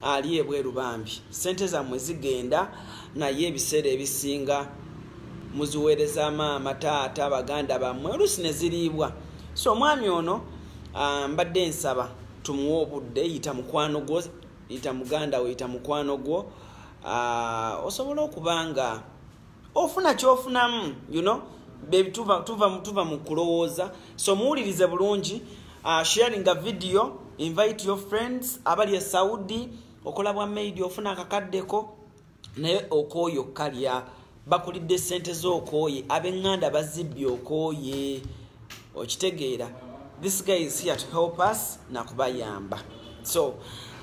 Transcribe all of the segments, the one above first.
ali ebweru bambi sente zamwe zigenda naye ebiseera ebisinga muziweereza maama taata baganda bammwe oluusi ne ziriibwa so omwami ono ah, mbadde nsaba tumuwe obudde yita mukwano gwo yita muganda wo yita mukwano gwo ah, osobola okuba nga ofuna kyofunamu you know bebi tuva tuva tuva mu kulowooza so muwulirize bulungi uh, sharing a video invite your friends abali e saudi okola bwa maid ofuna akakaddeko naye okooye okukalya bakulidde sente z'okooye abenganda bazibbye okooye okitegeera this guy is here to help us nakubayamba so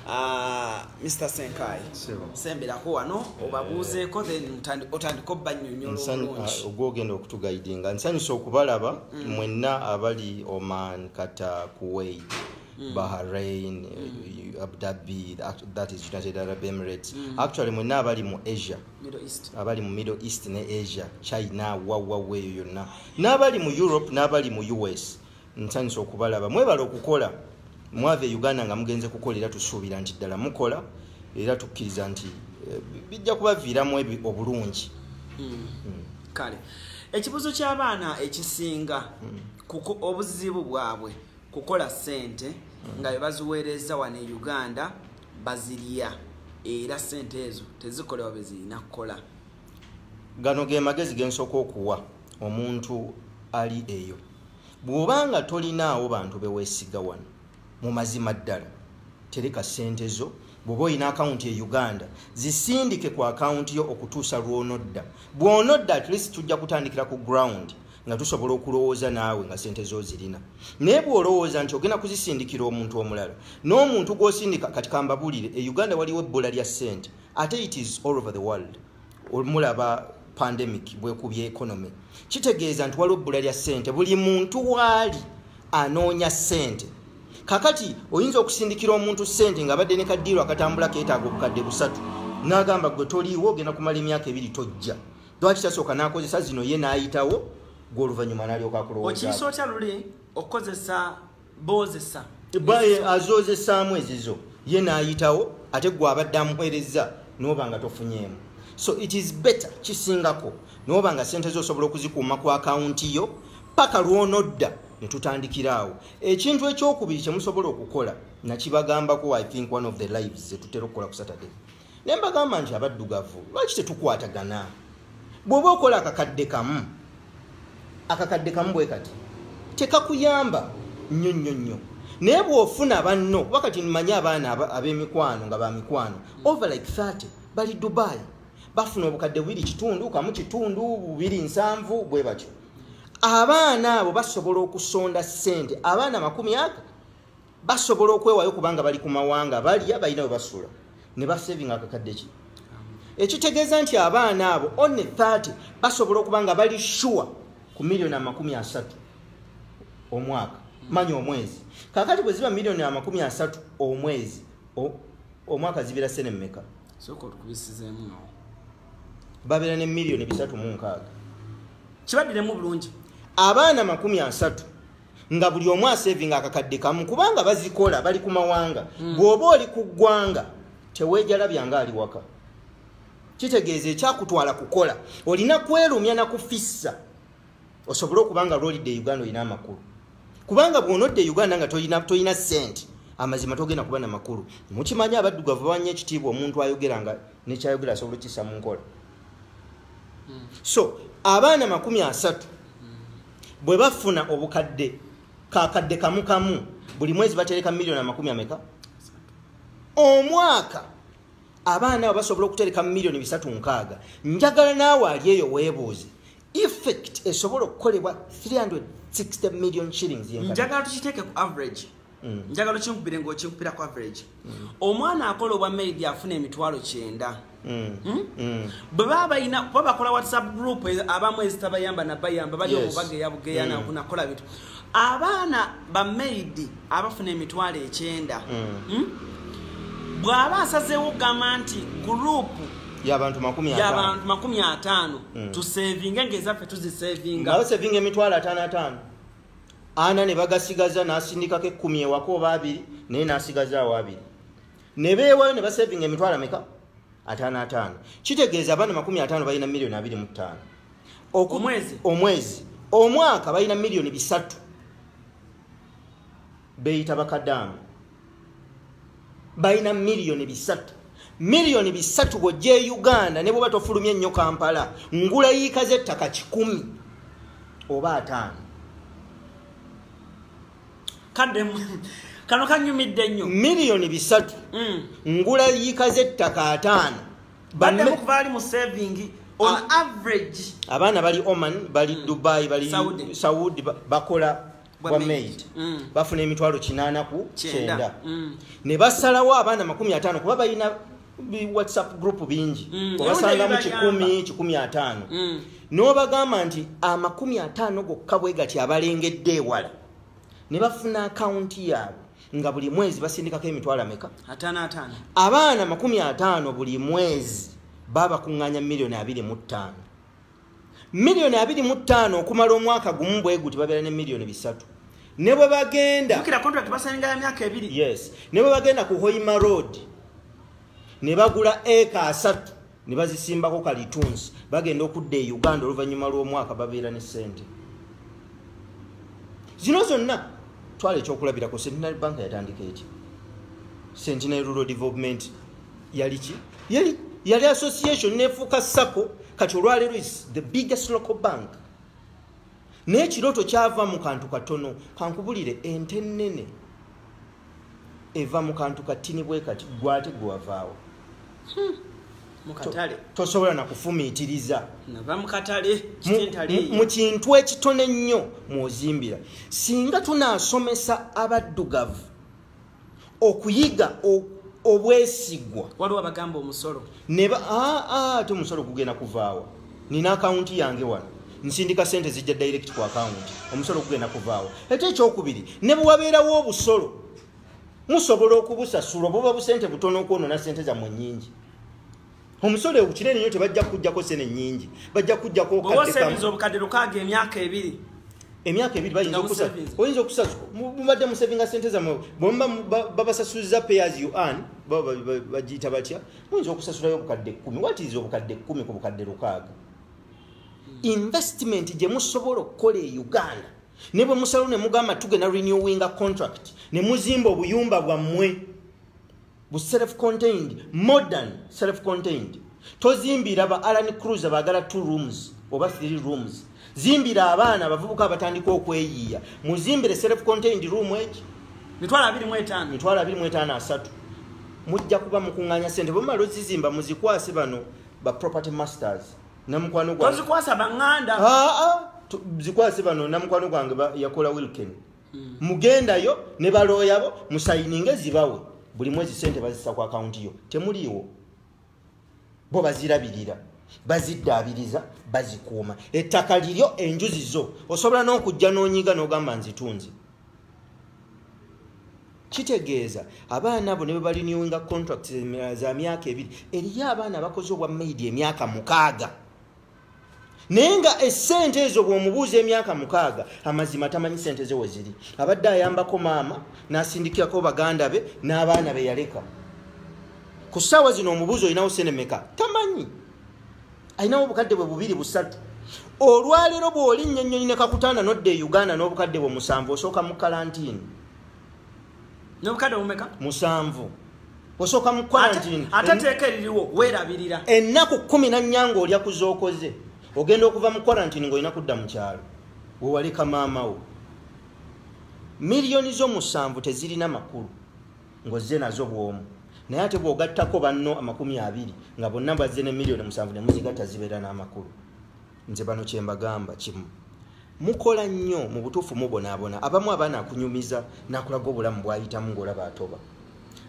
uh, mr senkai semberako wano obabuuzeeko then otandika obanyonyolaogwogenda uh, okutugaidinga nsanyusa okubalaba mm. mwenna abali oman kata kuwait mm. bahrain mm. abdabi that is united arab emirates mm. actually mwenna abali mu asia abali mu middle east ne asia china wawawa eyo yonna n'abali mu europe n'abali mu us nsanyusa okubalaba mwebala okukola mwava e uganda nga mugenze kukola era tusuubira nti ddala mukola era tukkiriza nti eh, bijja kubaviiramu obulungi hmm. Hmm. kale ekibuzo ky'abaana ekisinga hmm. kuko obuzibu bwabwe kukola sente mm. nga bebaziweereza wano e uganda bazirya era sente ezo tezikolewa bezirina kukola gano ge magezi gensoka okuwa omuntu ali eyo bwoba nga tolinaawo bantu bewesiga wano mu mazima ddala tereka sente zo bwoba olina akawunti e uganda zisindike ku akawunti yo okutuusa lwonodda bwonodda at least tujja kutandikira ku ground nga tusobola okulowooza naawe nga sente zo zirina naye bwolowooza nti ogenda kuzisindikira omuntu omulala n'omuntu gwosindika kati kambabuulire e uganda waliwo ebbula lya sente ate it is all over the world omulaba pandemic bwekubya economy kitegeeza nti waliwo ebbula lya sente buli muntu waali anoonya sente kakati oyinza okusindikira omuntu sente nga abadde ne kadiiro akatambula keetaaga obukadde busatu n'agamba gwe toliiwo ogenda kumala emyaka ebiri tojja lwaki tasooka n'akozesa zino ye n'ayitawo gwe oluvannyuma n'alyoka akulowooza okiyisa otya luli okukozesa boozesa azoozesaamu ezizo ye n'ayitawo ate gwe abadde amuweerezza n'oba nga tofunyeemu so it is better kisingako n'oba nga ssente zo osobola okuzikuuma ku akawunti yo paka lw'onodda ne tutandikira awo ekintu ekyokubiri kye musobola okukola nakibagambako i think one of the lives zetutera okukola ku saturday naye mbagamba nti abaddugavu lwaki tetukwatagana bw'oba okola akakadde kamu akakadde kamu bwe kati tekakuyamba nnyo nnyo nnyo naye bw'ofuna banno kuba kati mmanyi abaana ab'emikwano nga ba mikwano over like 30 bali dubai bafuna obukadde bubiri kitundu kamu kitundu bubiri nsanvu bwe batyo abaana abo basobola okusonda ssente abaana makumi aga basobola okwewayo kubanga bali ku mawanga balya balina we basula ne basevinga akakadde ki ekitegeeza nti abaana abo on 30 basobola okuba nga bali shuwa ku miliyoni amakumi asatu omwaka manya omwezi kakati bwe ziba miliyoni amakumi asatu omwezi omwaka zibira sene mumeka babeera ne miliyoni bisatu mu nkaaga kibaddiremu bulungi abaana makumi asatu nga buli omu asevinga akakadde kamu kubanga bazikola bali ku mawanga mm. bw'oba oli ku ggwanga teweejalabya nga ali waka kitegeeza ekyakutwala kukola olina kwerumya na kufissa osobole okuba nga lwolidde e uganda olina amakulu kubanga bw'onodde e uganda nga tolina sente amazima togenda kuba na makulu mukimanyi abaddugavu bawanya ekitiibwa omuntu ayogera nga nekyayogera asobola okisa mu nkola hmm. so abaana makumi asatu bwe bafuna obukadde kakadde kamu kamu buli mwezi batereka miliyoni amakumi ameka omwaka abaana abo basobola okutereka miliyoni bisatu nkaaga njagala naawe ali eyo weebuuze effect esobola okukolebwa 360 million shillings njagala tukiteeke ku average mm. njagala okinkubire ngaokinkubira ku average mm. omwana akola obwa maid afuna emitwalo kyenda mm. hmm? bwe baba balina kuba bakola whatsapp group e, abamu ezitabayamba nabayamba bali omubageya bugeya nakola bintu abaana bamaidi abafuna emitwalo ekyenda hmm? bw'aba asazeewo okugamba nti gurupu yabantu makumi ataano tusevinge ngaezaffe tuzisevinga emitwalo ataano ataano ana ne bagasigaza n'asindikako ekkumi ewaka oba abiri naye n'asigaza awo abiri ne beewayo ne basevinga emitwalo ameka ataano ataano kitegeeza abaana makumi ataano balina miliyoni abiri mu ttaano omwezi omwezi omwaka balina miliyoni bisatu beeyita bakadaama balina miliyoni bisatu miliyoni bisatu bwojja e uganda ne bwoba tofulumya ennyo kampala ngula yiika z'ettaka kikumi oba ataano kadde kano kanyumidde nnyo miliyoni bisatu mm. ngula yiika z'ettaka ataano baddemukuvali mu savingi on ah. average abaana bali oman bali mm. dubai bali saudi bakola bwa maid mm. bafuna emitwalo kinaana ku kyenda mm. ne basalawo abaana makumi ataano kuba balina whatsapp group bingi mm. obasangamu kikumi kikumi ataano n'obagamba nti amakumi ataano gokka bwe gati abalengedde ewala ne bafuna akawunti yaabwe nga buli mwezi basindikako emitwalo ameka abaana makumi ataano buli mwezi babakuŋŋanya miliyoni abiri mu ttaano miliyoni abiri mu ttaano okumala omwaka gumu bwe guti babeera ne miliyoni bisatu ne bwe bagenda yes ne bwe bagenda ku hoima road ne bagula eka asatu ne bazisimbako kalitunsi bagenda okudda e uganda oluvannyuma lw'omwaka babeera ne ssente zino zonna twala ekyokulabirako centenary bank yatandika eki centenary rural development yali ki yali yali association nefuuka sako kati olwaleero is the biggest local bank naye kirooto kyava mu kantu katono kankubulire ente nnene eva mu kantu katini bwe kati gwate gwewavaawo hmm. mukatale tosobola nakufumiitiriza nava mukatale mu kintu ekitono ennyo mwozimbira singa tunaasomesa abaddugavu okuyiga obwesigwa waliwo abagamba omusolo neba ate omusolo gugenda kuvaawa nina akawunti yange wano nsindika sente zijja direct ku akawunti omusolo gugenda kuvaawa ate ekyokubiri ne bwewabeerawo obusolo musobola okubusasula obuba busente butono okwonona sente zammwe nyingi omusolo kinene nyo tebajja kujjako sene nyingi bajja kujjako obukadde lukaaga emyaka ebiri emyaka ebiri bayinza okusa oyinza okusa mubadde musevinga sente zamwe bwemuba babasasuliza payers you earn bagiyita batya muyinza okusasulayo obukadde kumi watiiza obukadde kumi ku bukadde lukaaga hmm. investment gye musobola okukola e uganda ne bwe musalo ne mugamba tugenda renewinga contract ne muzimba obuyumba bwammwe bu self contained modern self contained tozimbira ba alan cruise bagala two rooms oba three rooms zimbira abaana abavubuka abatandika okweyiiya muzimbire self contained room eki mitwalo abiri mu etaano mitwalo abiri mu etaano asatu mujja kuba mukuŋŋanya sente bwemumala ozizimba muzikwase bano ba property masters namukwano gwange zikwase bano namukwano gwange yakola wilken hmm. mugendayo ne balooyabo musayininge zibawe buli mwezi sente bazisa ku akawunti yo temuliiwo bo bazirabirira baziddaabiriza bazikuuma ettaka liryo enjuzi zo osobola n'okujja n'onyiga n'ogamba nzitunzi kitegeeza abaana abo ne bebaliniwinga contract za myaka ebiri eriyo abaana bakoze obwa maidi emyaka mukaaga naye nga esente ezo bwomubuuza emyaka mukaaga amazima tamanyi sente ze weziri abadde ayambako maama nasindikirako baganda be n'abaana be yaleka ku ssaawa zino omubuuzi olinawo sente meka tamanyi alinawo obukadde bwe bubiri busatu olwaleero bw'olinnya ennyonyi ne kakutanda nodda e uganda n'obukadde bwe musanvu osooka mu kalantiini nobukadde bumeka musanvu osooka mu quarantine ate teeka eririwo weerabirira ennaku kumi na nnya ng'olya ku zookoze ogenda okuva mu quarantine ng'olina kudda mu kyalo wewaleka maamawo miliyoni zo musanvu tezirina makulu ng'ozze nazo bw'omu naye ate bw'ogattako banno amakumi abiri nga bonna bazze ne miliyoni musanvu ne muzigatta zibeera n'amakulu nze bano kyembagamba kimu mukola nnyo mu butuufu mubonaabona abamu abaana akunyumiza nakulaga obulamu bwayitamu ngaolaba atoba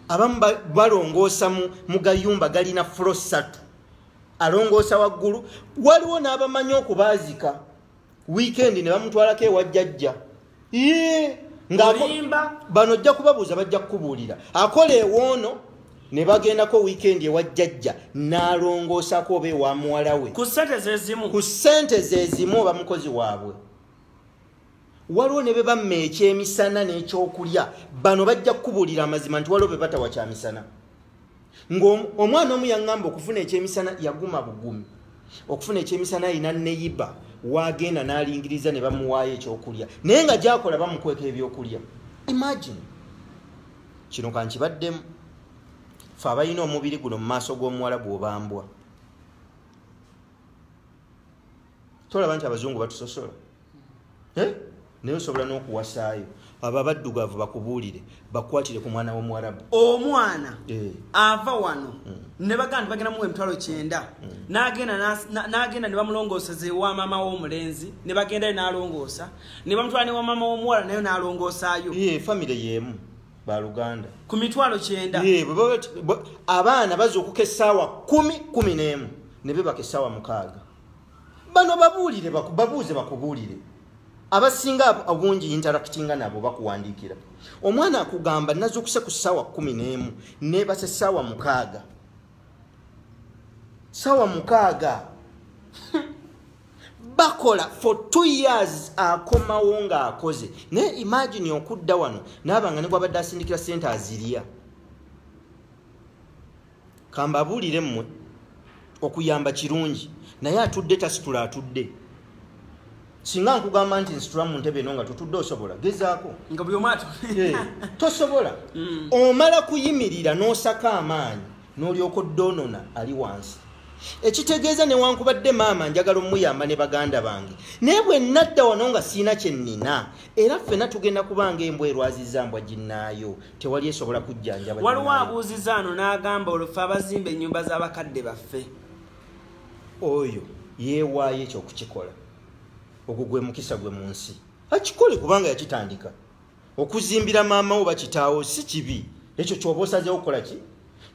abamu balongoosa mu gayumba galina fulo ssatu alongoosa waggulu waliwo n'abamanyi okubaazika wiikendi ne bamutwalako ewa jjajja bano ojja kubabuuza bajja kukubuulira akola ewoono ne bagendako wiikendi ewa jjajja n'alongoosako oba ewa muwala we ku ssente zezimu oba mukozi waabwe waliwo ne be bamma ekyemisana n'ekyokulya bano bajja kukubuulira amazima nti waliwo be batawa kyamisana ng'omwana omu yaŋŋamba okufuna ekyemisana yaguma bugumi okufuna ekyemisana alina neyiba waagenda n'alingiriza ne bamuwaayo ekyokulya naye nga gyakola bamukweka ebyokulya imagine kino kankibaddemu fe abalina omubiri guno mu maaso g'omuwala gwobambwa tolaba nti abazungu batusosola eh? naye osobola n'okuwasaayo abo abaddugavu bakubuulire bakwatire ku mwana w'omuwarabu omwana eh. ava wano mm. ne bagamba nti bagenda muwa emitwalo kyenda mm. n'agenda ne bamulongooseza ewa maama w'omulenzi ne bagendayo n'alongoosa ne bamutwala ne wa maama w'omuwala nayo n'alongoosaayo ye famire y'emu baluganda ku mitwalo kyenda abaana baza okuka essaawa kumi kumi n'emu ne bebaka essaawa mukaaga bano babuulire babuuze bakubuulire abasinga obungi interactinga nabo bakuwandiikira omwana akugamba nazukuse ku ssaawa kumi n'emu nebase ssaawa mukaaga ssaawa mukaaga bakola for two years akomawo ng'akoze naye imagine okudda wano naaba nga ne gwabadde asindikira sente azirya kambabuulire mmwe okuyamba kirungi naye atudde tasitula atudde singa nkugamba nti nsitula mu ntebe eno nga tutudde osobola gezaako nga buli omwatu eh, tosobola mm. omala kuyimirira n'osaka amaanyi n'olyoka oddoonona ali wansi ekitegeeza newankubadde maama njagala omuyamba ne baganda bange naye bwe nadda wano nga siina kye nnina era ffena tugenda kubanga embwa erwaziza mbwa ginnaayo tewali esobola kujjanjaba waliwo abuuziza ano n'agamba olufe abazimba ennyumba z'abakadde baffe oyo yeewaayo ekyokukikola ogwo gwe mukisa gwe mu nsi akikole kubanga yakitandika okuzimbira maama wo bakitaawo si kibi ekyo kyoba osazeewo okukola ki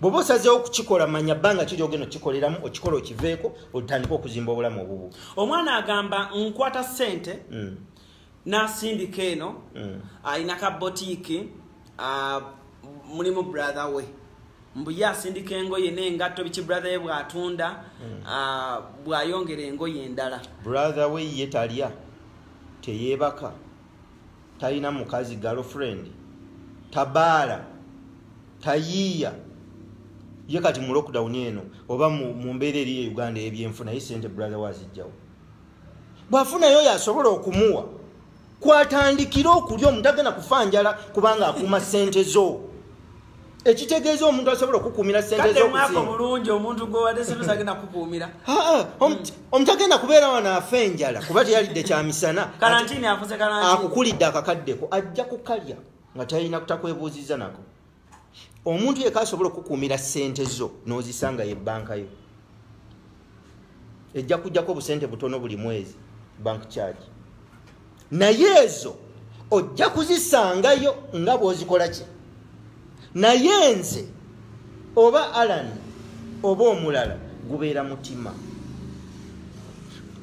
bwoba osazeewo okukikola manya bbanga kiri ogenda okikoleramu okikola okiveeko otandika okuzimba obulamu obubu omwana agamba nkwata ssente mm. nasindika eno mm. alina ka botiiki uh, mulimu brother we mbu ye asindika engoye n'engatto biki brother ye bw'atunda mm. uh, bw'ayongera engoye endala brother we ye talya teyeebaka talina mukazi girlfriend tabaala tayiiya ye kati mu lockdown eno oba mu mbeera eri e uganda ebyenfuna ye sente brother wazijjawo bwafunayo oyo asobola okumuwa kwatandikira okulya omuntu agenda kufa njala kubanga akuuma sente zo ekitegeeza omuntu asobola okukuumira sente zomuzingaomulungi omuntu gwewadesagenda kukuumira omuntu agenda kubeera wano afa enjala kuba teyalidde kyamisana akukulidde akakaddeko ajja kukalya nga talina kutakwebuuziza nako omuntu yeka asobola okukuumira sente zo nozisanga ye banka yo ejja kujjako obusente butono buli mwezi bank charge naye ezo ojja kuzisangayo nga bwozikola ki naye nze oba alan oba omulala gubeera mutima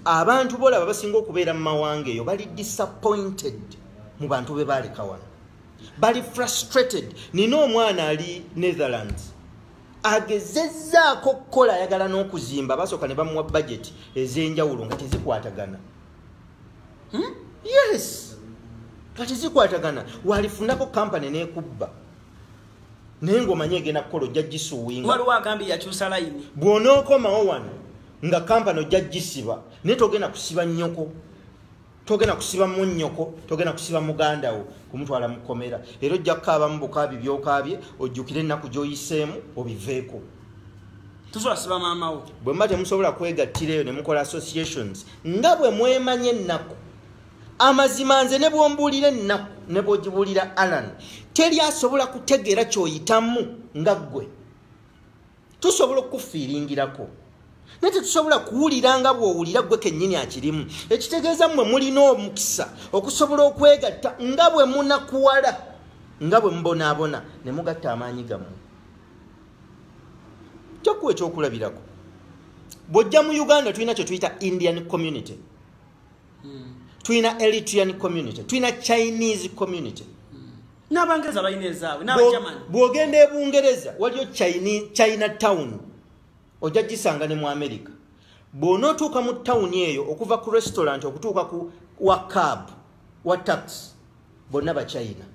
abantu bolaba basinga okubeera mu mawanga eyo bali disappointed mu bantu be baaleka wano bali frustrated nina omwana ali netherlands agezezzaako okukola ayagala n'okuzimba basooka ne bamuwa bajeti ez'enjawulo nga tezikwatagana hmm? yes nga tezikwatagana walifunako kampany nekubba naye ngaomanyi egenda kukola ojja gisuwingabwonookomawo wano nga kampany ojja gisiba naye togenda kusiba nnyoko togenda kusiba munyoko togenda kusiba muganda wo kumutwala mukomera era ojja kukaaba mu bukaabi byokaabye ojjukire ennaku gyoyiseemu obiveeko tuzwasiba maama wo bwe mba temusobola kwegattira eyo ne mukola associations nga bwe mwemanya ennaku amazima nze ne bwombuulira ennaku ne bwogibuulira alan teri asobola kutegeera kyoyitamu nga ggwe tusobola okukufiiringirako naye tetusobola kuwulira nga bw'owulira gwe kennyini akirimu ekitegeeza mmwe mulina omukisa okusobola okwegatta nga bwe munakuwala nga bwe mubonaabona ne mugatta amaanyi gammwe kyokuwa ekyokulabirako bw'ojja mu uganda tulina kye tuyita indian community hmm. tulina eritrian community tulina chinese community hmm. n'abangereza balina ezaabwe n'abajaman bw'ogenda e bungereza waliyo china town ojja gisanga ne mu amerika bw'onootuuka mu tawuni eyo okuva ku restaurant okutuuka ku wa cab wa tax bonna bachina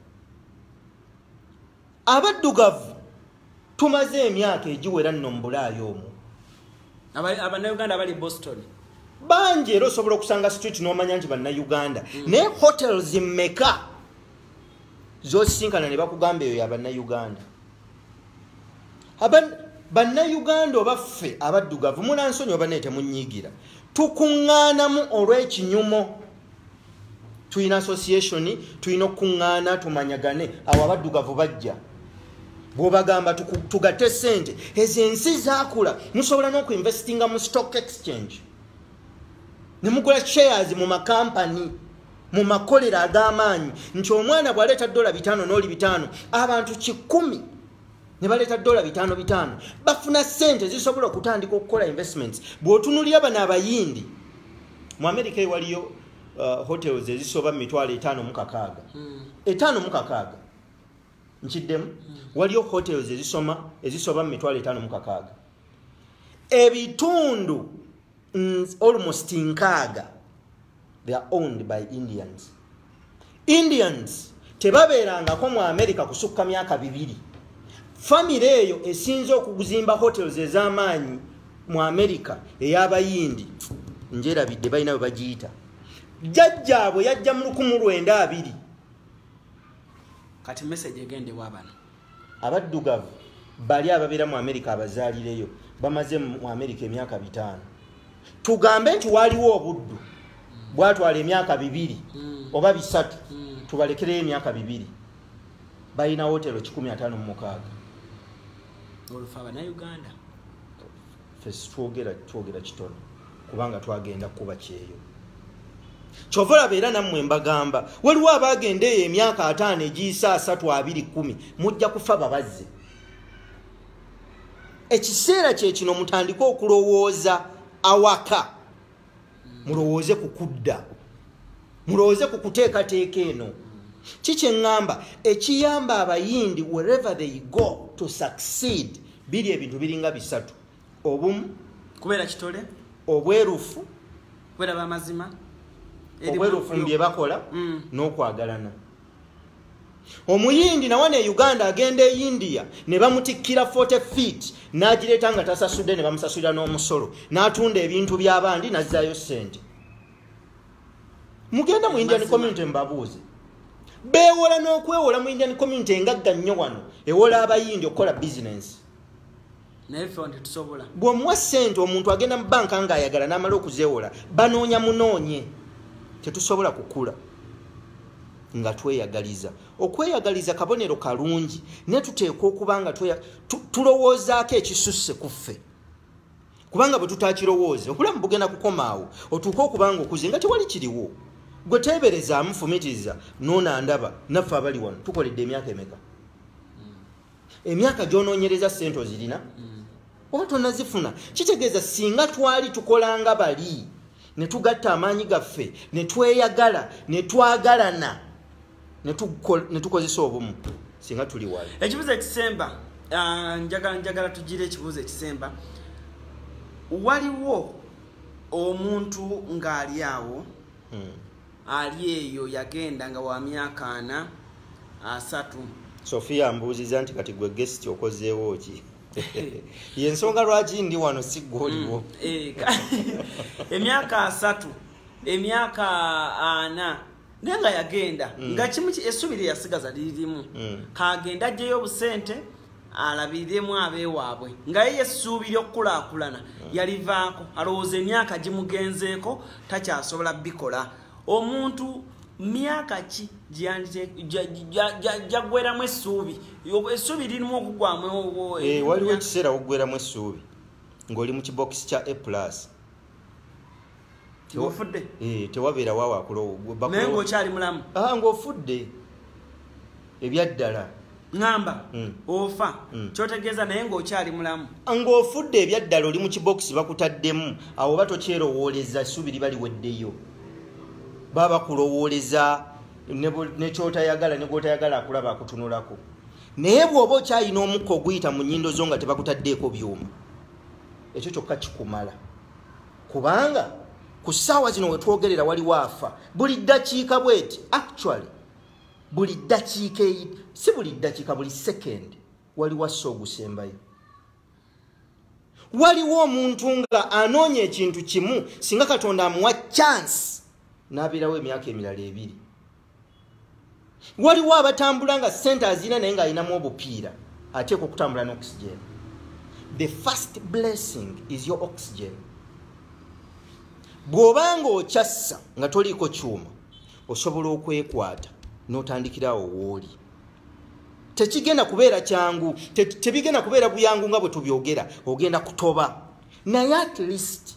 abaddugavu tumaze emyaka egiwera nno mu bulaayo omwo abanauganda abali boston bangi era osobola okusanga street nomanya nti bannauganda mm. naye hotels meka zosisinkana ne bakugamba eyo yabannauganda bannauganda oba ffe abaddugavu mulansonyi oba naye temunyigira tukuŋŋaanamu olw'ekinyumo tulina association tulina okukuŋŋaana tumanyagane awo abaddugavu bajja bwobagamba tugate sente ezo ensi zakula musobola n'okuinvestinga mu stock exchange ne mugula shares mu makampani mu makolero ag'amaanyi nti omwana bw'aleeta dola bitaano n'oli bitaano abantu kikumi ne baleeta dola bitaano bitaano bafuna sente zisobola okutandika okukola investments bw'otunulira bano abayindi mu amerika ewaliyo uh, hotels ezisoba mu mitwalo etaano mukakaaga hmm. etaano mukakaaga nkiddemu hmm. waliyo hotels ezisoma ezisoba mu mitwalo etaano mukakaaga ebitundu mm, almost nkaaga they are owned by indians indians tebabeerangako mu america kusukka myaka bibiri famire eyo esinze okuzimba hotels ez'amaanyi mu america ey'abayindi njerabidde balina bwe bagiyita jjajjaabwe yajja mu lukumu lwenda abiri kati message egendewa abana abaddugavu bali ababeera mu amerika abazaalireyo bamaze mu amerika emyaka bitaano tugambe nti waliwo obuddu bwatwala emyaka bibiri hmm. oba bisatu hmm. tubalekereyo emyaka bibiri balina wotero kikumi ataano mumukaaga twogera twogera kitono kubanga twagenda kuba kyeyo kyova olaba era nammwe mbagamba waliwo abagenda eyo emyaka ataano egiyisa asatu abiri kumi mujja kufa babazze ekiseera kyekino mutandike okulowooza awaka mulowooze ku kudda mulowooze ku kuteekateeka eno kikyeŋŋamba ekiyamba abayindi wherever they go to succeed biri ebintu biringa bisatu obumu kubeera kitole obwerufu kubeera bamazima obwerufu mu bye bakola mm. n'okwagalana omuyindi nawana e uganda agenda e india ne bamutikkira 40 feet n'agireeta nga tasasudde ne bamusasulira n'omusolo n'atunda ebintu by'abandi n'azzaayo ssente mugenda mu indian community mubabuuze beewola n'okwewola mu indian community engagga nnyo wano ewola abayindi okukola bizinensi bwomuwa sente omuntu agenda mu banka nga ayagala namala okuzewola banoonya munoonye tetusobola kukula nga tweyagaliza okweyagaliza kabonero kalungi naye tuteekwa okuba nga tulowoozaako ekisusse ku ffe kubanga bwe tutakirowooza okulamu bugenda kukomaawo otuuke okubanga okuze nga tewali kiriwo gwe teeberezaamu fumitiriza noona ndaba naffe abali wano tukoledde emyaka emeka emyaka gyononyereza sente ozirina mm. oba tonazifuna kitegeeza singa twali tukolanga bali netugatta amaanyi gaffe netweyagala netwagalana netukozesa obumu singa tuli wali ekibuzo ekisemba ah, njagala njagala tugire ekibuzo ekisemba waliwo omuntu ng'ali awo hmm. ali eyo yagenda nga wa myaka ana asatu sofia mbuuziza nti kati gwe gesti okozeewo ki yensonga lwaki ndi wano si gwoliwo mm, eh, emyaka asatu emyaka ana naye nga yagenda mm. nga kimu essubi lyeyasigaza liririmu mm. kagenda ajjeyo obusente alabiriremu abeewaabwe nga ye yessuubi ly'okukulaakulana yalivaako alowooza emyaka gimugenzeeko takyasobola bikola omuntu myaka ki gyagweramu essuubi essuubi lirimu okugwamu eh, waliwo ekiseera wogweramu essuubi ng'oli mu kibokisi kya a plus ofudde eh, tewabeera wawo akulowonaye ngaokyali mulamu ah, ngaofudde ebyaddala ŋamba hmm. ofa hmm. kyotegeeza naye ngaokyali mulamu ah, ngaofudde ebyaddala oli mu kibokisi bakutaddemu awo oba tokyerowooleza essuubi liba liweddeyo baba bakulowooleza nekyotayagala negwotayagala akulaba akutunulako naye bwoba okyalina omukka oguyita mu nyindo zo nga tebakutaddeeko byuma ekyo kyokka kikumala kubanga ku ssaawa zino wetwogerera waliwo afa buli ddakiika bweti actually buli ddakiika eyi si buli ddakiika buli second waliwo assa ogusembayo waliwo omuntu nga anoonya ekintu kimu singa katonda amuwa chance n'abeerawo emyaka emirala ebiri waliwo abatambula nga sente azina naye ng'alinamu obupiira ateeka okutambula ne oxygen the first blessing is your oxygen bw'oba nga okyassa nga toliiko kyuma osobola okwekwata n'otandikirawo wooli tekigenda kubeera kyangu tebigenda kubeera buyangu nga bwe tubyogera ogenda kutoba naye at least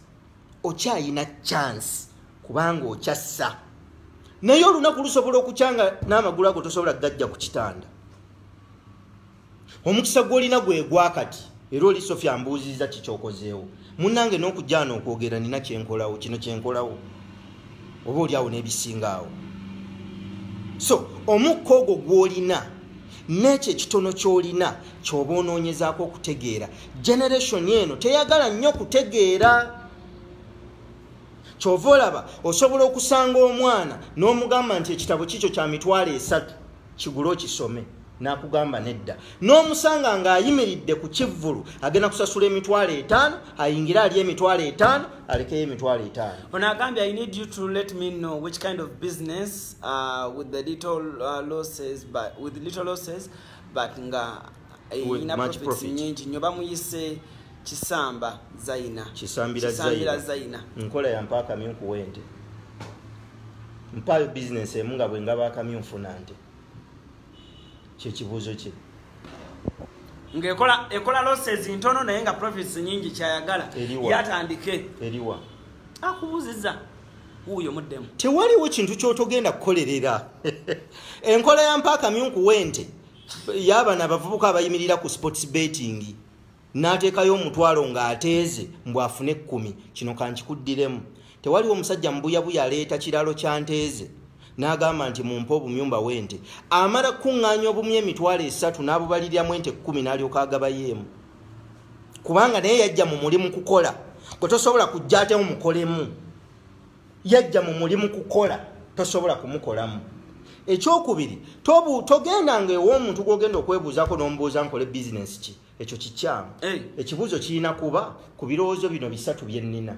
okyayina chance kubanga okyassa naye olunaku lusobola okukyanga n'amagulu ago tosobola gajja ku kitanda omukisa gwolina gwegwakati era oli sofia mbuuziza kikyokozeewo munange n'okujjaana okwogera nina kyenkolawo kino kyenkolawo oba oli awo n'ebisinga awo so omukka ogwo gw'olina n'ekyo ekitono ky'olina ky'oba onoonyezaako okutegeera generation eno teyagala nnyo kutegeera kyova olaba osobola okusanga omwana n'omugamba nti ekitabo kikyo kya mitwalo esatu kigule okisome nakugamba nedda n'omusanga ng'ayimiridde ku kivvulu agenda kusasula emitwalo etaano ayingire ali emitwalo etaano alekeyo emitwalo etaano ono agambye i need you to let me know which kind of business uh, with the little uh, losses but, with little losses but nga eyina eh, profits nyingi nyo bamuyise kisamba zaina kisambira zaina, zaina. nkola ya mpaka myo kuwente mpayo business emu nga bwengaba akamyo nfuna nte kyekibuuzo kye ngaekola ekola losses ntono naye nga profits nyingi kyayagala yatandike eriwa akubuziza wuuyo muddemu tewaliwo kintu kyotogenda kukolerera enkola ya mpaaka myunkuwente yabana abavubuka abayimirira ku sports betting n'ateekayo omutwalo ng'ateeze mbu afune ekkumi kino kankikuddiremu tewaliwo omusajja mubuyabuya aleeta kiralo kya nteeze n'agamba nti mumpe obumyumba w'ente amala kukuŋŋaanya obumyu emitwalo esatu n'abubaliriramu ente ekkumi n'alyoka agabayeemu kubanga naye yajja mu mulimu kukola gwe tosobola kujja atemu mukolemu yajja mu mulimu kukola tosobola kumukolamu ekyokubiri togenda nga ew'omuntu gwogenda okwebuuzako n'omubuuza nkole bizinesi ki ekyo kikyamu ekibuuzo kirina kuba ku birowoozo bino bisatu bye nnina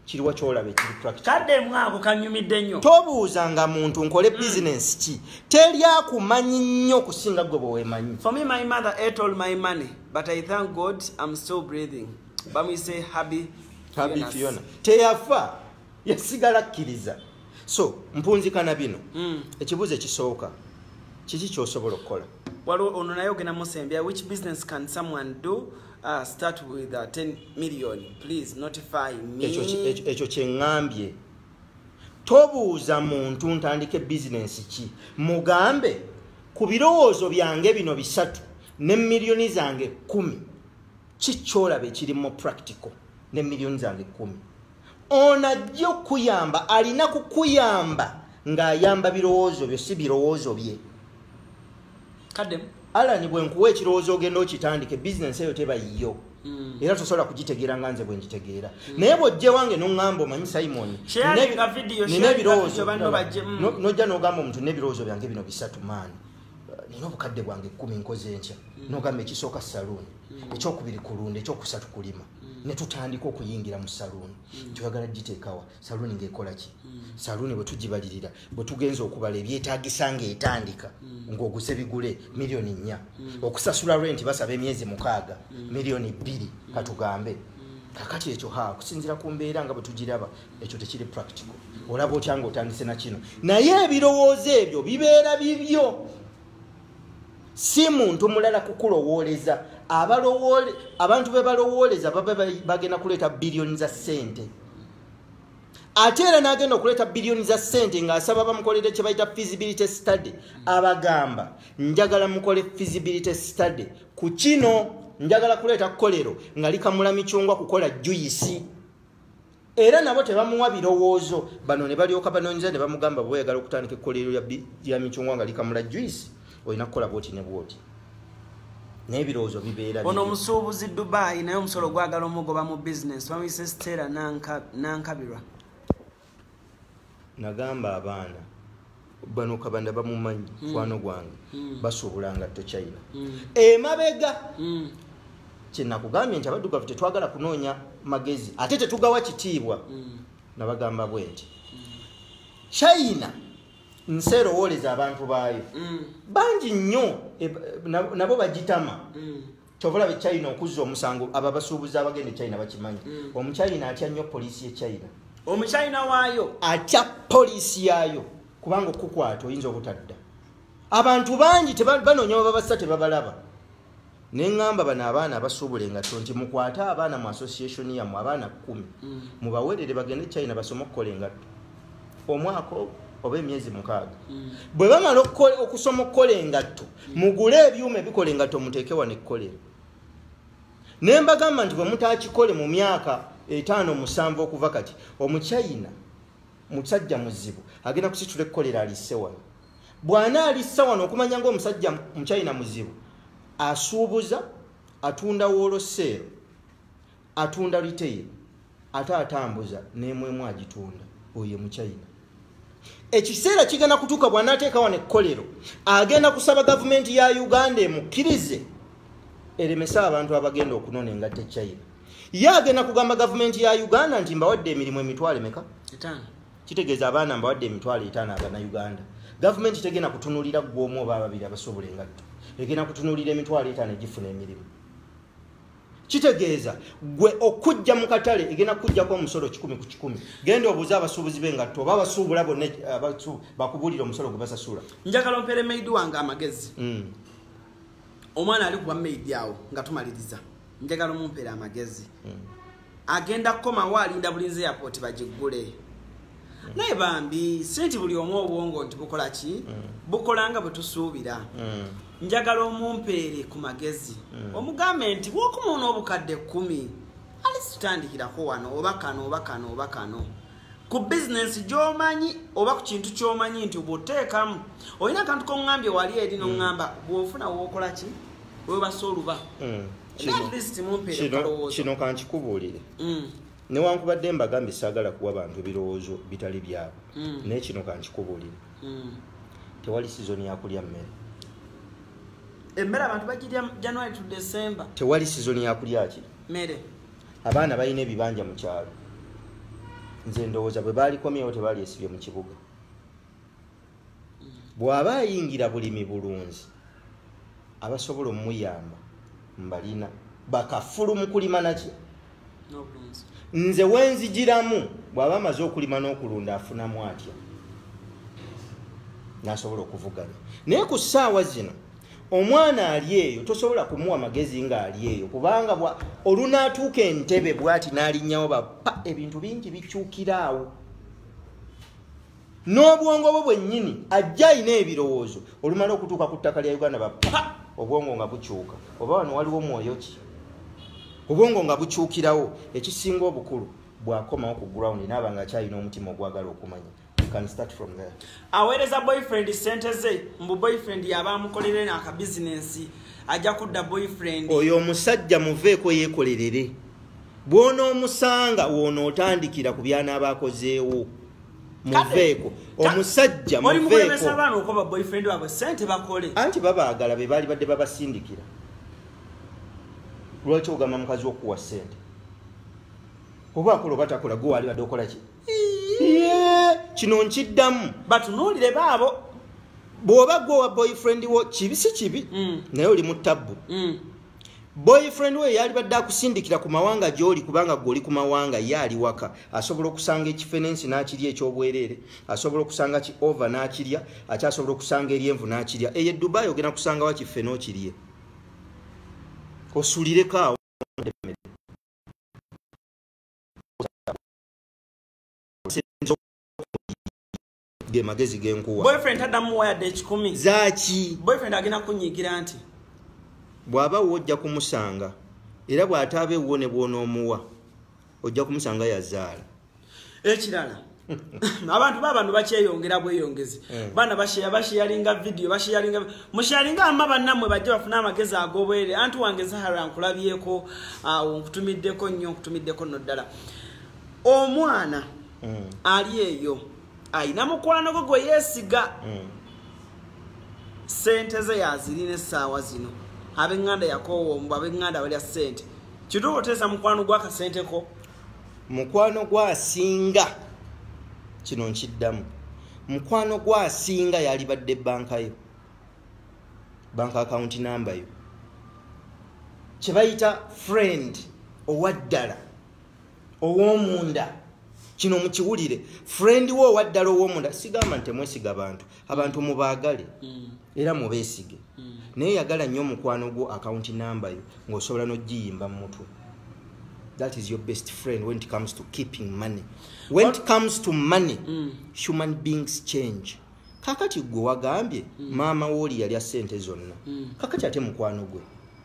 kiriwa kyolaba ekirikaddemwako kanyumidde nnyo tobuuza nga muntu nkole hmm. bizinesi ki teri akumanyi nnyo okusinga gwe bwewemanyi bamuyise habi habi fiona teyafa yasigala akkiriza so mpunzikana bino mm. ekibuuzo ekisooka kiki kyosobola okukola waliwo ono naye ogenda musembya which business can someone do uh, start with uh, 10 million please notify me ekyo kyeŋambye tobuuza muntu ntandike bizinensi ki mugambe ku birowoozo byange bino bisatu ne miliyoni zange kumi kikyolaba ekiri mu practical ne million zange kumi ono ajja okukuyamba alina kukuyamba ng'ayamba birowoozo byo si birowoozo bye kademu alani bwenkuwa ekirowoozo ogenda okitandike bizinensi eyo teba yiyo hmm. era tosobola kugitegeera nga nze bwengitegeera hmm. naye bwojje wange noŋamba omanyi simoni nina ebirowoozo hmm. nojja nogamba omuntu nebirowoozo byange bino bisatu maani nina obukadde bwange kumi nkoze enkya mm. nogamba ekisooka saluuni mm. ekyokubiri kulunda ekyokusatu kulima mm. netutandika okuyingira mu saluuni twagala giteekawa saluuni ngaekolaki saluuni bwetugibalirira bwetugenza okubala ebyetagisa ngaetandika ngaoguze bigule miliyoni nnya okusasula renti basaba emyezi mukaaga miliyoni bbiri katugambe kakati ekyo ha kusinzira ku mbeera nga bwetugiraba ekyo tekiri practical olaba otya nga otandise na kino naye ebirowoozo ebyo bibeera bibyo si muntu mulala kukulowooleza abantu be balowooleza baba bagenda kuleeta biliyoni za ssente ate era n'agenda okuleeta biliyoni za ssente ng'asaba bamukolere kye bayita feasibility study abagamba njagala mukole feasibility study ku kino njagala kuleeta kolero nga likamula micungwa kukola juyisi era nabo tebamuwa birowoozo bano ne balyoka banoonyeza ne bamugamba bweyagala okutandika ekkoleero lya micungwa nga likamula juice olina kukola bwoti ne bwoti naye ebirowoozo bibeera ono omusuubuzi dubai naye omusolo ogwagala omugoba mu bizinesi bamuyise sitera nankabirwa nagamba abaana bano kabanda bamumanyi hmm. kwano gwange hmm. basuubula ngatto china hmm. emabega kyenakugambye nti abaddugavu tetwagala kunoonya magezi ate tetugawa kitiibwa nabagamba bwe nti china nsi erowooleza abantu baayo bangi nnyo e, nabo bagitama kyovolaba echina okuzza omusango abo abasuubuzi abagenda echina bakimanyi mm. omuchina atya nnyo poliisi yechina omuchina waayo atya poliisi yaayo kubanga okukwata oyinza obutadda abantu bangi banoonya bababassa tebabalaba neŋamba bano abaana abasuubula engatto nti mukwate abaana mu association yamwe abaana kumi mm. mubawerere bagende china basome okukola engatto omwaka ogwo oba emyezi mukaaga hmm. bwe bamala okusoma okukola engatto hmm. mugule ebyuma ebikola engatto muteeke wano ekkolero ne mbagamba nti bwe mutakikole mu myaka etaano musanvu okuva kati omuchina musajja muzibu agenda kusitula ekkolero alisse wano bw'ana alissa wano okumanya ngaomusajja muchina muzibu asuubuza atunda wooloseero atunda retail ate atambuza nemwemu agitunda oyo muchina ekiseera kigenda kutuuka bwanateeka wano ekkolero agenda kusaba gavumenti ya uganda emukkirize eremese abantu abagenda okunona engatte china ye agenda kugamba gavumenti ya uganda nti mbawadde emirimu emitwalo emeka kitegeeza abaana mbawadde emitwalo etaano abana uganda gavumenti tegenda kutunulira gwomu oba ababiri abasobola engatto egenda kutunulira emitwalo etaano egifuna emirimu kitegeeza gwe okujja mu katale egenda kukujjako omusolo kikumi ku kikumi genda obuuze abasuubuzi be ngatto oba abasuubula bonna eh, bakubuulira omusolo gwe basasula njagala ompeere maidi wange amagezi hmm. omwana ali kuba maidi awo nga tumaliriza njagala omumpeere amagezi hmm. agenda kukomawo alinda bulinzi airport bagiggule naye bambi senti buli omu obwongo nti bukola ki mm. bukola nga bwe tusuubira mm. njagala omumpeere ku magezi mm. omugambe nti wokumuuna obukadde kkumi alisitandikirako wano oba kano oba kano oba kano ku bizinensi gyomanyi oba ku kintu kyomanyi nti bwoteekamu olina akantu kongambye wali eri nongamba bwofuna wokola ki webasa oluba kino kankikubuulire newankubadde mbagambye saagala kuwa bantu ebirowoozo bitali byabo mm. naye kino kankikubuulire mm. tewali sizoni yakulya mmere emmere abantu bagirya january to december tewali sizoni yakulya ki mmere abaana balina ebibanja mu kyalo nze ndowooza bwe baalikomyewo tebaali esibye mu kibuga bw'aba ayingira bulimi bulunzi abasobola omuyamba mbalina bakafulu mu kulima naki nze wenzijiramu bw'aba amaze okulima n'okulunda afunamu atya nasobola okuvuganya naye ku ssaawa zino omwana ali eyo tosobola kumuwa magezi nga ali eyo kubanga olunaatuuka entebe bwati n'alinnyawo bapa ebintu bingi bikyukiraawo n'obwongo bwo bwennyini ajja alina ebirowoozo olumala okutuuka ku ttaka lya uganda bapa obwongo nga bukyuka oba wano waliwo mwoyo ki obwongo nga bukyukirawo ekisinga obukulu bwakomawo ku ground naaba nga akyalina omutima ogwagala okumanya aweereza boyfriend sente ze mbu boyfriend yaba amukolerere nakabizinensi ajja kudda boyfriend oyo omusajja muveeko yekolerere bwonoomusanga woonootandikira ku byanaaba akozeewo muveeko omusajja muveekoanti babaagala be baali badde babasindikira lwaki ogamba mukazi wokuwa sente oba akola oba takola gwe waali badde okolaki kino nkiddamu batunuulire baabo bw'oba gwe owa boyfriend wo kibi si kibi mm. naye oli mu tabbu mm. boyfriend we yalibadde akusindikira ku mawanga gy'oli kubanga gwe oli ku mawanga ye ali waka asobola okusanga ekifenensi n'akirya eky'obwereere asobola okusanga ki ova n'akirya ate asobola okusanga eryenvu n'akirya eyo edubai ogenda kusanga wa kiffe n'okirye osulireko awo ge magezi genkuwa boyfriend tadamu waya de kikumi zaki boyfriend agina kunyigira nti bwaba wojja kumusanga era bwatabe wone bwona omuwa ojja kumusanga yazaala ekirala abantu babantu bakyeyongera bweyongezi eh. baana basheya basheyalinga vidiyo basheyalinga musheyalinga ama bannamwe bajja bafuna amagezi agobwere anti wange zahara nkulabyeko awo ah, nkutumiddeko nnyo nkutumiddeko nno ddala omwana mm. ali eyo alina mukwano gwe gwe yeesiga mm. sente ze yazirina essaawa zino abenganda yakowombu abenganda balya sente kituuka oteesa mukwano gwakasenteko mukwano gwasinga kino nkiddamu mukwano gwasinga yalibadde banka yo banka akawunti namba yo kyebayita friend owaddala owomunda kino mukiwulire friend wo owaddala owomunda sigamba nti mwesiga bantu abantu mubaagale mm. era mubeesige mm. naye yagala nnyo omukwano gwo akawunti namba yo ng'osobola n'ogiyimba mu mutwe that is your best friend when it comes to keeping money when it comes to money mm. human beings change kakati gwe wagambye maama wooli yalya ssente zonna kakati ate mukwano gwe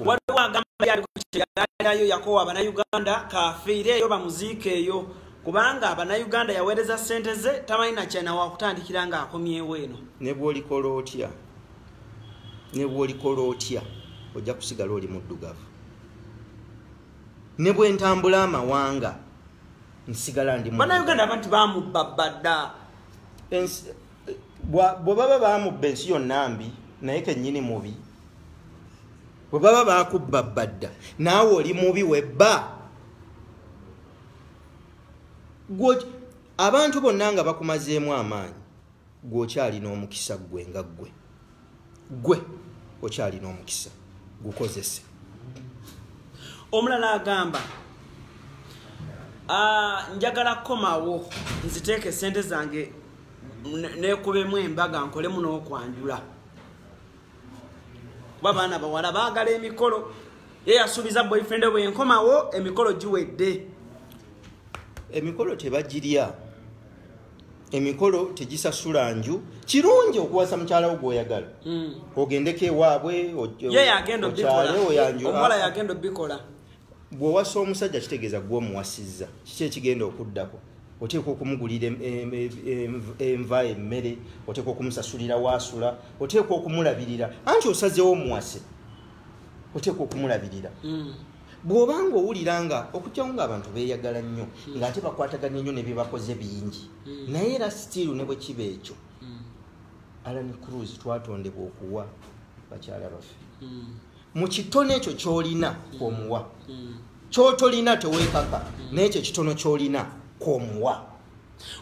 waliwo agamba yali ku kyeyalinayo yakowa banauganda kafiire eyo bamuziika eyo kubanga banauganda yaweereza sente ze tamanyi nakyana wakutandikira nga akomyewo eno nebwolikola otya nebwolikola otya ojja kusigala oli muddugavu ne bwentambula amawanga nsigala ndi banauganda abantu bamubba badda bwe baba bamubba ensi yonna mbi naye kenyini mubi bwe baba bakubba bbadda naawe oli mubi webba abantu bonna nga bakumazeemu amaanyi gweokyalina omukisa ggwe nga ggwe gwe okyalina omukisa gukozese omulala agamba ah, njagala kukomawo nziteeka esente zange nekubemu embaga nkolemu n'okwanjula kuba baana bawala baagala emikolo ye yasuubiza boyfriend bwe nkomawo emikolo giwedde emikolo tebagirya emikolo tegisasula nju kirungi okuwasa mukyala wo gwoyagala mm. ogendeko ewaabwe okyaleoyanjuomuwala yagenda obikola bwowasa omusajja kitegeeza gwe omuwasizza kiki ekigenda okuddako oteeka okumugulira enva emmere oteeka okumusasulira waasula oteeka okumulabirira anti osazewo omuwase oteeka okumulabirira mm. bw'oba nga owulira nga okugyawo ngaabantu beeyagala nnyo hmm. ng'ate bakwataganye nnyo ne byebakoze bingi hmm. naye era sitiiru ne bwe kiba ekyo hmm. alan cruz twatondebwa okuwa bakyala baffe mu kitono ekyo ky'olina kwomuwa kyotolina tewekaka n'ekyo ekitono ky'olina kwomuwa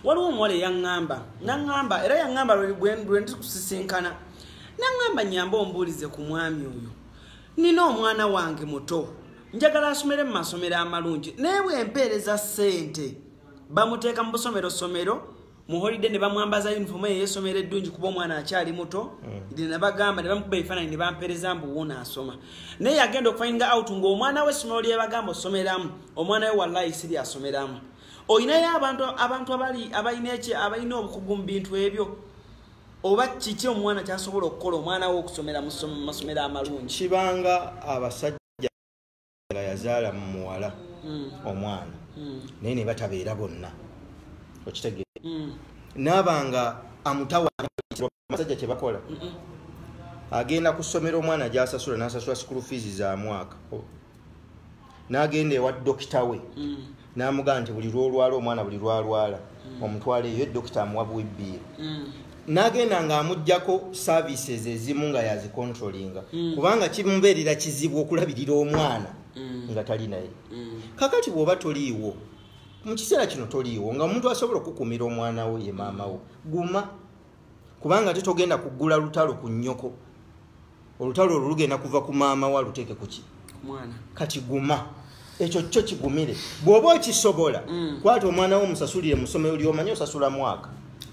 waliwo omuwala eyaŋŋamba naŋŋamba era yaŋŋamba lwe ndi kusisinkana naŋŋamba nyamba ombuulize ku mwami oyo nina omwana wange muto njagala asomere mu masomero amalungi naye bwempeereza ssente bamuteeka mu busomero somero mu holiday ne bamwambaza uniform eyo eyesomero eddungi kuba omwana akyali muto mm. ne nabagamba ne bamukuba ebifaananyi ne bampeereza mbu wuuno asoma naye yagenda okufainga out ng'omwana we essomero lyebagamba osomeramu omwana we wallayi si lyasomeramu olinayo abantu abantu abali abalina eki abalina obukugu mu bintu ebyo oba kiki omwana kyasobola okukola omwana we okusomera mu masomero amalungi kibanga abasajja yazaala mu muwala hmm. omwana hmm. naye ne batabeera bonna okitegeera hmm. naabanga amutawaasajja kyebakola agenda ku ssomero omwana gyasasula nasasula sikulu fiizi za mwaka n'agenda ewa dokita we mm. n'amugamba nti buli lwolwala omwana buli lwalwala mm. omutwala eyo dokita amuwa buwibbiiro mm. n'agenda ng'amugjako services ezimu nga yazicontrolinga kubanga kimubeerera kizibu okulabirira omwana nga tali naye kakati bw'oba toliiwo mu kiseera kino toliiwo nga omuntu asobola okukuumira omwana wo ye maama wo guma kubanga ate togenda kugula lutalo ku nyoko olutalo olwo lugenda kuva ku maama wa luteeke kuki kati guma ekyo kyo kigumire bw'oba okisobola mm. kwata omwana wo musasulire musomero lyomanye osasula mwaka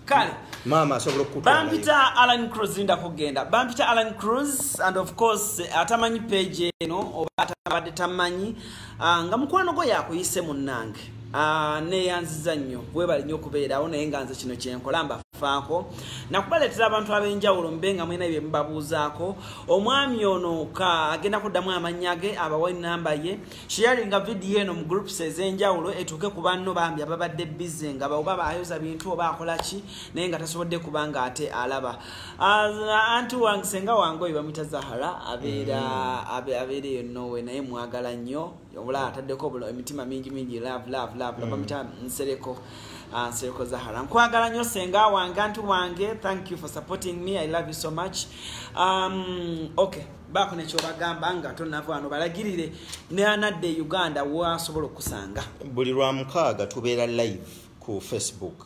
kale maama asobola okubampita alan cruz linda kugenda bampita alan cruz and of course atamanyi page eno oba atabadde tamanyi ah, nga mukwano gwo yakuyise munnange ah, neyanziza nnyo webali nnyo okubeerawo naye nga nze kino kyenkola mba faako nakubaleetera abantu ab'enjawulo mube nga mulina bye mubabuuzaako omwami ono ka agenda kuddamu amannya ge abawa enamba ye sharinga vidiyo eno mu groups ez'enjawulo etuuke ku banno bambi ababadde bize nga baoba baayoza bintu oba akola ki naye nga tasobodde kuba nga ate alaba anti wange senga wange oyo bamwita zahara abeera mm. abeera eyo nowe naye mwagala nnyo obula ataddeko bulo emitima mingi mingi love love love love mm. mitima nsereko ah, nsereko zahara nkwagala nyo senga wange antu wange thank you for supporting me i love you so much um, okay baako nekyobagamba nga tonava wano balagirire neanadde e uganda wasobola okusanga buli lwamukaaga tubeera live ku facebook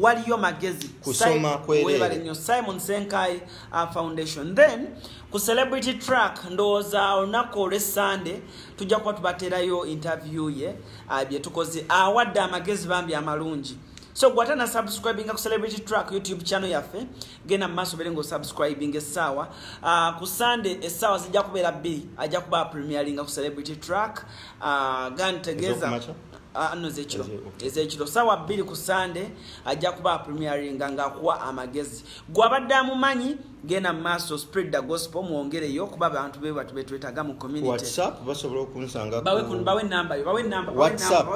waliyo magezi kusoma kwewebale nyo simon senkai uh, foundation then ku celebrity track ndowooza olunaku olwe sunday tujja kuba tubaterayo interview ye uh, byetukoze awadde uh, amagezi bambi amalungi so gwata na subscribing ku celebrity track youtube channel yaffe genda mu maaso bere ngaosubscribing essaawa uh, ku sunday essaawa zijja kubeera bbiri ajja kuba premieringa ku celebrity track uh, gantegeeza Ah, no zekiro ezekiro sawa bbiri ku sande ajja kuba apremiaringa ngaakuwa amagezi gwe abadde amumanyi genda mu maaso spread the gospel mwongereyo kuba abantu be batu betwetaga mu communitybawe nambayo bawe namba whatsapp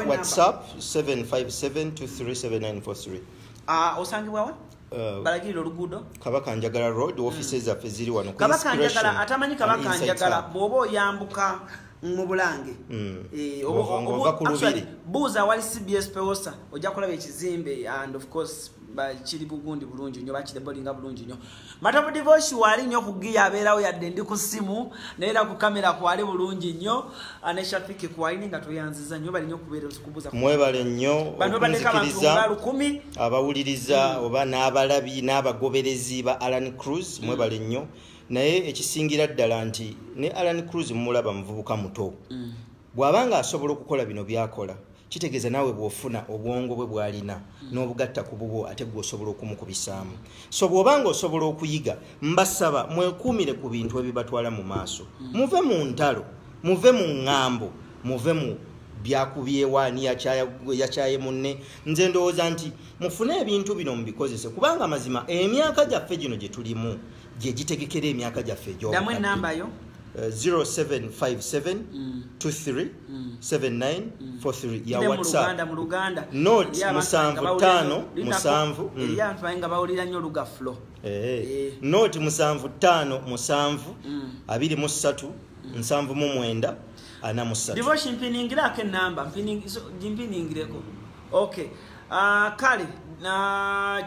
757 237 943 osangibwawa Uh, balagirira oluguudo kabaka njagala road hmm. office zaffe ziri wano kabaka njagala atamanyi kabaka njagala bwoba oyambuka mu bulange hmm. eh, buuza awali cbs peosa ojja kulaba ekizimbe and of course kiri bugundi bulungi nyo bakirebolinga bulungi nyo matabu divoshi wali nyo kugiya abeerawo yadde ndi ku simu naera ku kamera kwali bulungi nyo aneshafiki kwalini nga tweyanziza nyo bali nyo kubeera kubuza mwebale nyo bano baleka bantu nga lukumi abawuliriza oba n'abalabi n'abagoberezi ba alan cruz mwebale nnyo naye ekisingira ddala nti ne alan cruz mumulaba muvubuka muto mm. bw'aba nga asobola okukola bino byakola kitegeeza naawe bw'ofuna obwongo bwe bwalina mm. n'obugatta ku bubwo ate gwe osobola okumukubisaamu so bw'oba nga osobola okuyiga mbasaba mwekuumire ku bintu ebibatwala mu maaso mm. muve mu ntalo muve mu ŋŋambo muve mu byakubyewa ani yakyaye munne nze ndowooza nti mufune ebintu bino mubikozese kubanga amazima emyaka gyaffe gino gye tulimu gye gitegekera emyaka gyaffe egyodamu enamba yo 0757 23 79 43 ya whatsapp not musanvu tano musanvu mm. eh, eh. not musanvu tano musanvu mm. abiri mu ssatu nsanvu mu mwenda ana musatu devotion mpiningira ake namba mpiningireeko ok ah, kale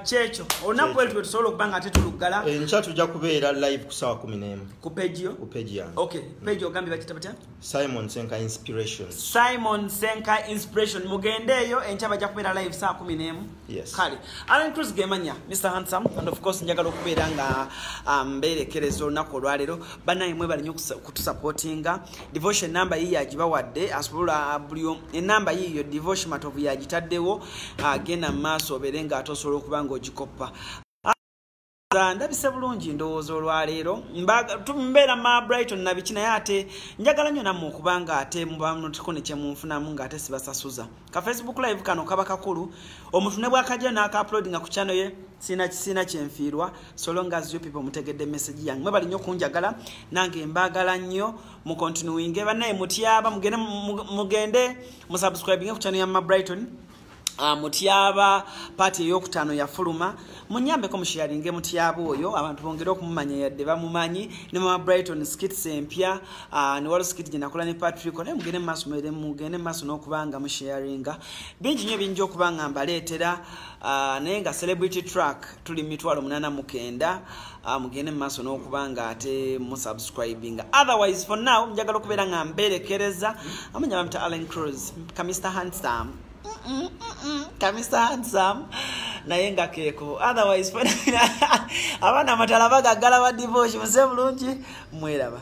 kyekyo olunaku elutwe tusobola okuba nga tetuluggala enkya eh, tujja kubeera live ku sawa kumi nemu ku pegiyo ku pegi yange ok pegi ogambye bakita batya simon senka inspiration simon senka inspiration mugendeeyo enkya bajja kubeera live saa kumi nemu Yes. kale alan cruz gemanya mr handsome and of course njagala okubeera nga um, mbeerekereza olunaku olwaleero banaye mwebali nyo okutusupportinga devotion enamba yiyo agibawadde asobola uh, buli enamba yiyo devotion matovu yagitaddewo agenda uh, mu maaso obeere nga ate osobola okuba nga ogikoppa ndabise bulungi ndowooza olwaleero mbeera ma brighton nabiki naye ate njagala nnyo nammwe okuba nga ate mubamutikone kyemunfunamu nga ate sibasasuza ka facebook live kano kaba kakulu omuntu ne bwakajja naakaupload nga ku chano ye sina kisina kyenfiirwa solongas yo people mutegedde message yange mwebali nnyo okunjagala nange mbaagala nnyo mukontinuwinge bannaye mutyaba mugende musubscribinge ku chano ya ma brighton Ah, mutyaba paati eyokutaano yafuluma munyambeko mushiyaringe mutyaba oyo abantu bongere okumumanya yadde bamumanyi ne mama brighton skits empya ah, newalo skit gyenakola ne patrick naye mugende mumaaso mwere mugende mumaaso n'okubanga mushiyaringa bingi nyo biyinja okuba nga mbaleetera ah, naye nga celebrity track tuli mitwalo munana mukenda Ah, mugende mu maaso n'okuba nga ate musubscribinga otherwise for now njagala okubeera nga mbeerekereza amanya bamita allen cruz ka mr handsome ka mr handsome naye nga keeko otherwise abaana amatala bagaggala ba divoshi muse bulungi mweraba